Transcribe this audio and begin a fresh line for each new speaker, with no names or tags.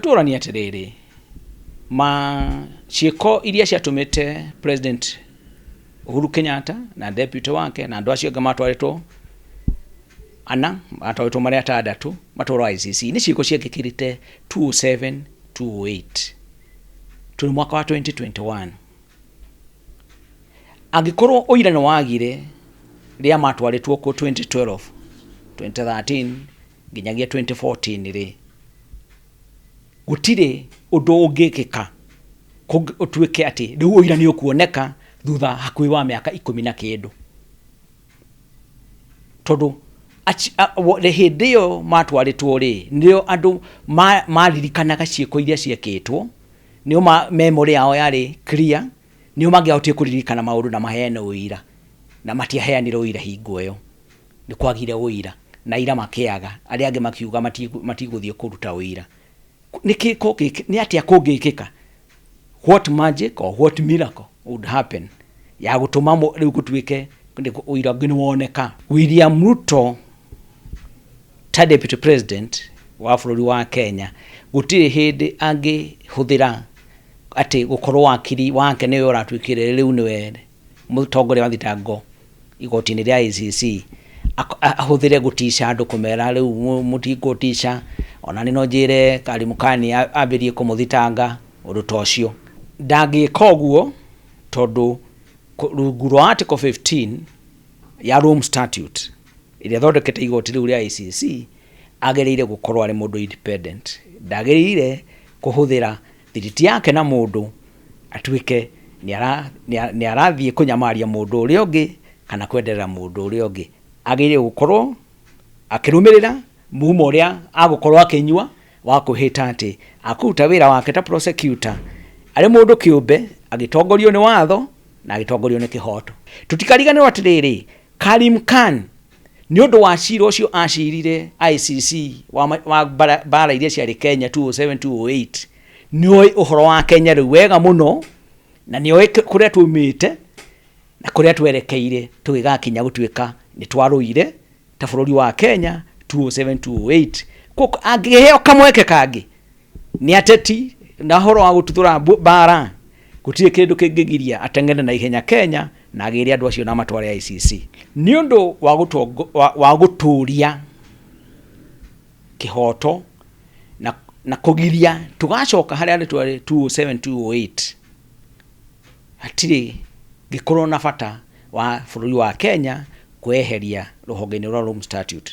Tũũranie atĩrĩrĩ, ma ciĩko iria ciatũmĩte President Uhuru Kenyatta na deputy wake na andũ acio angĩ matwarĩtwo ana, matwarĩtwo marĩ atandatũ matwarwo ICC, nĩ ciĩko ciekĩkĩrĩte 2007, 2008. Twĩ mwaka wa 2021. Angĩkorwo ũira nĩ wagire rĩrĩa matwarĩtwo kuo 2012, 2013, nginyagia 2014 rĩ gũtirĩ ũndũ ũngĩkĩka kũng- ũtuĩke atĩ rĩu ũira nĩ ũkuoneka thutha hakuhĩ wa mĩaka ikũmi na kĩndũ tondũ aci- a- wo- rĩ- hĩndĩ ĩyo matwarĩtwo rĩ nĩo andũ ma- maririkanaga ciĩko iria ciekĩtwo nĩo ma- memory yao yarĩ clear nĩo mangĩahotire kũririkana maũndũ na maheane ũira na matiaheanire ũira hingo ĩyo nĩ kwagire ũira, na aira makĩaga, arĩa angĩ makiuga mati- matigũthiĩ kũruta ũira. Nĩ kĩ ko gĩkĩ- nĩ atĩa kũngĩkĩka? What magic or what miracle would happen ya gũtũma mũ- rĩu gũtuĩke nĩ kũ- ũira ũngĩ nĩ woneka? William Ruto ta deputy president wa bũrũri wa Kenya gũtirĩ hĩndĩ angĩhũthĩra atĩ gũkorwo wakiri wake nĩwe ũratuĩkire rĩu nĩwe mũtongoria wa thitango igoti-inĩ rĩa ICC ak- a- ahũthĩre gũtica andũ kũmera rĩu mũ- mũtigũtica ona nĩ no njĩre karimukani a- ambĩrie kũmũthitanga ũndũ ta ũcio ndangĩka ũguo tondũ kũ- rungu rwa article 15 ya Rome statute ĩrĩa thondekete igoti rĩu rĩa ICC agĩrĩire gũkorwo arĩ mũndũ independent ndagĩrĩire kũhũthĩra Thiriti yake na mũndũ atuĩke nĩ arathiĩ kũnyamaria mũndũ ũrĩa ũngĩ kana kwenderera mũndũ ũrĩa ũngĩ, agĩrĩire gũkorwo akĩrũmĩrĩra mumo ũrĩa agũkorwo akĩnyua wa kwĩhĩta atĩ akũruta wĩra wake ta prosecutor arĩ mũndũ kĩũmbe agĩtongorio nĩ watho na agĩtongorio nĩ kĩhoto. Tũtikariganĩrwo atĩrĩrĩ, Karim Khan Nĩ ũndũ wa cira ũcio acirire ICC wa, wa mbara, mbara iria ciarĩ Kenya 207 208 nĩ oĩ ũhoro wa Kenya rĩu wega mũno na nĩ oĩ kũrĩa tumĩte na kũrĩa twerekeire tũgĩgakinya gũtuĩka nĩ twarũire ta bũrũri wa Kenya 207 208 angĩheo kamweke kangĩ Nĩ ateti na horo wa gũtuthũra mbara gũtirĩ kĩndũ kĩngĩgiria ateng'ere na ihenya Kenya na agĩre andũ acio na matware ICC nĩ ũndũ wa gũtũria kĩhoto na kũgiria tũgacoka harĩa twarĩ 2007, 2008. Hatirĩ ngĩkorwo na bata wa bũrũri wa Kenya kwĩyeheria rũhonge-inĩ rwa Rome Statute.